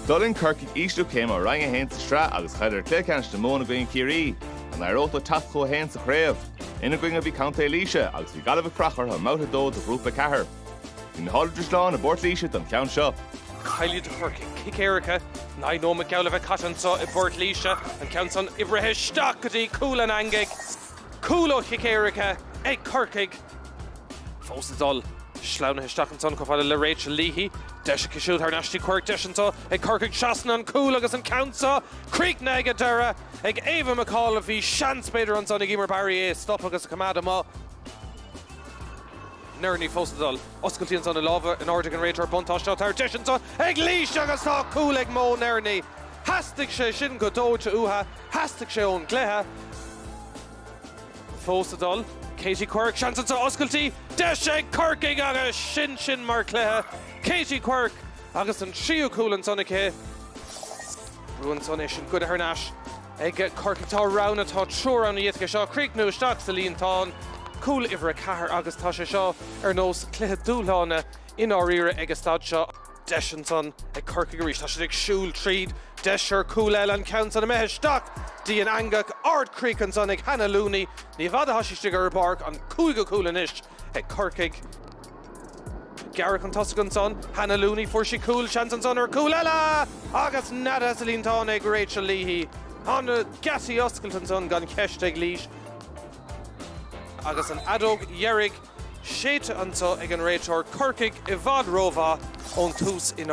D'fhulaing Corcaigh ísliú céime ó Roinn 1 sa tsraith agus chailleadar Cluiche Ceannais na Mumhan i gcoinne Ciarraí. An éireodh leo teacht chucu féin sa chraobh? Ina gcoinne a bhí contae Laoise agus bhí Gaillimh ag faire orthu i mbabhta a dó de Ghrúpa 4. Bhí na háitritheoirí slán i bPort Laoise don cheann seo. Caoi eile do Chorcaigh cic éirice naoi nóimeat geall a bheith caite anseo i bPort Laoise, an ceann san oibrithe isteach go dtí cúl an eangaigh. Cúl ó chic éirice ag Corcaigh. Fós ag dul. Sleamhnaithe isteach ansan chomh fada le Rachel Leahy. Deas aici siúd thar n-ais. go dtí Quirke deis anseo ag Corcaigh. Seasann an cúl agus an ceann seo críochnaithe ag an deireadh ag Ava McAuliffe. Bhí seans b'fhéidir ansan ag Eimear Barry é a stop agus a choimeád amuigh. Nerney fós ag dul. Oscailtí ansan i lámha in airde ag an réiteoir. Buntáiste á thabhairt. Deis anseo ag Laois agus tá cúl ag Mo Nerney. Theastaigh sé sin go dóite uatha. Theastaigh sé ón gcluiche fós ag dul. Katie Quirke, seans anseo oscailtí, deis ag Corcaigh agus sin sin mar chluiche. Katie Quirke agus an tríú cúl ansan aici. Bua ansan é sin goidte thar n-ais ag Corcaigh. Tá roghanna tá triúr ann dóibh. Tá seo críochnú isteach sa líontán. Cúl uimhir a ceathair agus tá sé seo ar nós cluiche dúshlána i ndáiríre ag an staid seo. Deis ansan ag Corcaigh arís. Tá siad ag siúl tríd. Deis ar chúl eile, an ceann san imithe isteach. den eangach, ard-chríoch ansan ag Hannah Looney. Ní i bhfad a thá sí istigh ar an bpáirc, an cúigiú cúl anois ag Corcaigh. Gearradh chun tosaigh ansan. Hannah Looney, fuair sí cúl. Seans ansan ar chúl eile! Agus neadaithe sa líontán ag Rachel Leahy. Tá na geataí oscailte ansan gan cheist ag Laois. Agus an fheadóg dheiridh. séidte anseo ag an réiteoir Corcaigh i bhfad rómhaith ón tús in.